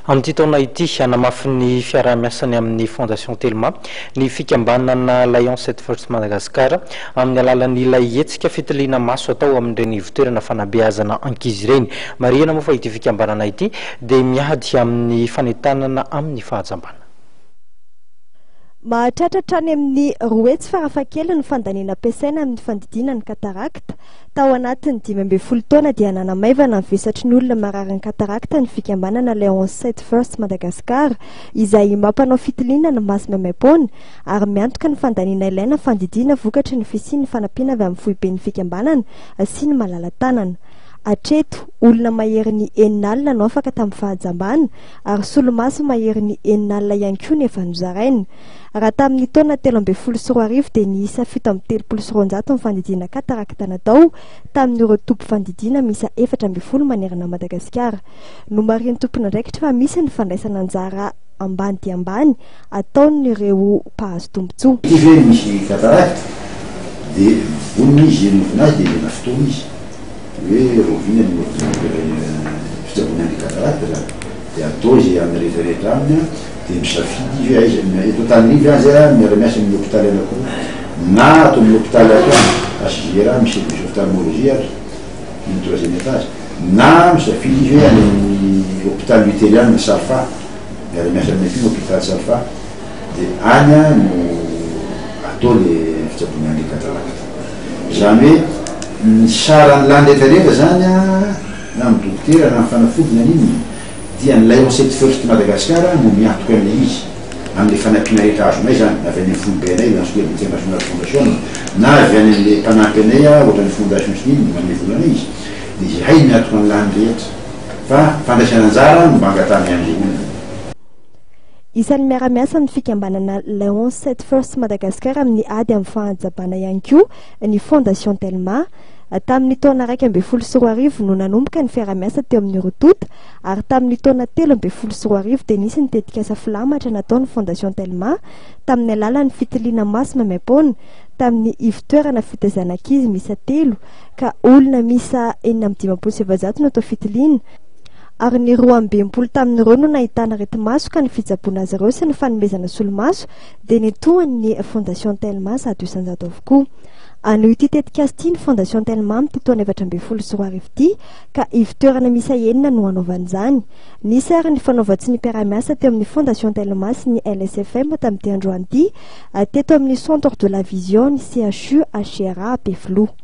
Amin'ity taona ity, hanamafy ny fiaraha-miasany amin'ny Fondation Telma ny fikambanana Lions et First Madagascar amin'ny alalan'ilay hetsika fitiliana maso atao amin'ireny ivotoerana fanabeazana ankizy ireny. Marihina moa fa ity fikambanana ity dia miady amin'ny fanentanana amin'ny fahajambana. Mahatratra hatrany amin'ny roa hetsy farafahakeliny ny fandaniana ampiasaina amin'ny fandidiana ny katarakta. Tao anatin'ny dimy ambin'ny folo taona dia nanamaivana ny vesatry ny olona marary ny katarakta ny fikambanana Leon's Sight First Madagascar izay mampanao fitiliana ny maso maimaim-poana ary miantoka ny fandaniana ilaina fandidiana vokatry ny fisian'ny fanampiana avy amin'ny foiben'ny fikambanana sy ny malala-tanana hatreto. Olona maherin'ny enina alina no afaka tamin'ny fahajambana ary solomaso maherin'ny enina alina ihany koa no efa nozaraina. Raha tamin'ny taona telo ambin'ny folo sy roa arivo dia niisa fito amby telopolo sy roanjato ny fandidiana katarakta natao tamin'ireo toby fandidiana miisa efatra ambin'ny folo manerana an'i Madagasikara. Nomarihin'ny tompon'andraikitra fa misy ny fandraisana anjara ambany dia ambany ataon'ireo mpahazo tombontsoa. Ity ve misy katarakta dia vonona izy hihenonavona azy dia ilaina fotoana izy. Hoe rahoviana ny ordinateur fitsaboana an'ilay cataracte zany? Dia atao izay amin'ny rehetra rehetra aminy an, dia misafidy izy hoe aiza ny eto Antananarivo ianz a, miara miasa amin'ny hopitaly anakiroa na ato amin'ny hopitaly ato ihany, HJRA misy service ophtalmologie ary ny tour Zenefaz, na misafidy izy hoe any amin'ny hopitaly Lutheriana, Safa, miara miasa aminay koa ny hopitaly Safa. Dia any no atao le fitsaboana an'le kadradraka. Izany hoe ny saran'ny landraka rehetra zany an, na ny dokotera na ny fanafody na n'inona dia ny Lancet First Madagascar no miantoka an'le izy amin'le fanampiana rehetra azonay zany, avy any amin'ny foibe anay Lancet International Foundation na avy any amin'le mpanampy anay ohatran'ny fondation sy n'inona manome vola anay izy dia izahay miantoka an'lany rehetra fa fandraisana anjara no mba angatahany an'le olona. Isan'ny miara-miasa amin'ny fikambanana Leon Set First Madagascar amin'ny ady amin'ny fahatsabana ihany koa ny Fondation Telma. Tamin'ny taona iraika ambin'ny folo sy roa arivo no nanomboka ny fiara-miasa teo amin'ny roa tonta ary tamin'ny taona telo ambin'ny folo sy roa arivo dia nisy ny tetikasa filamatra nataon'ny Fondation Telma tamin'ny alalan'ny fitiliana maso maimaim-poana tamin'ny ivo-toerana fitaizana ankizy miisa telo ka olona miisa enina amby dimampolo sy efajato no atao fitiliana ary ny roa amby enimpolo tamin'ireo no nahitana areti-maso ka ny fitsaboana azy ireo sy ny fanomezana solomaso dia ny tohan'ny Fondation Telma zato isan-jato avokoa. Hanohy ity tetikasa ity ny Fondation Telma amin'ity taona efatra ambin'ny folo sy roa arivo ity ka ivo-toerana miisa enina no hanaovany izany. Nisy ary ny fanaovan-tsy ny mpiara-miasa teo amin'ny Fondation Telma sy ny LSFM tamin'ity androany ity teto amin'ny Centre de la Vision ny CHU HCRA Ampefiloha.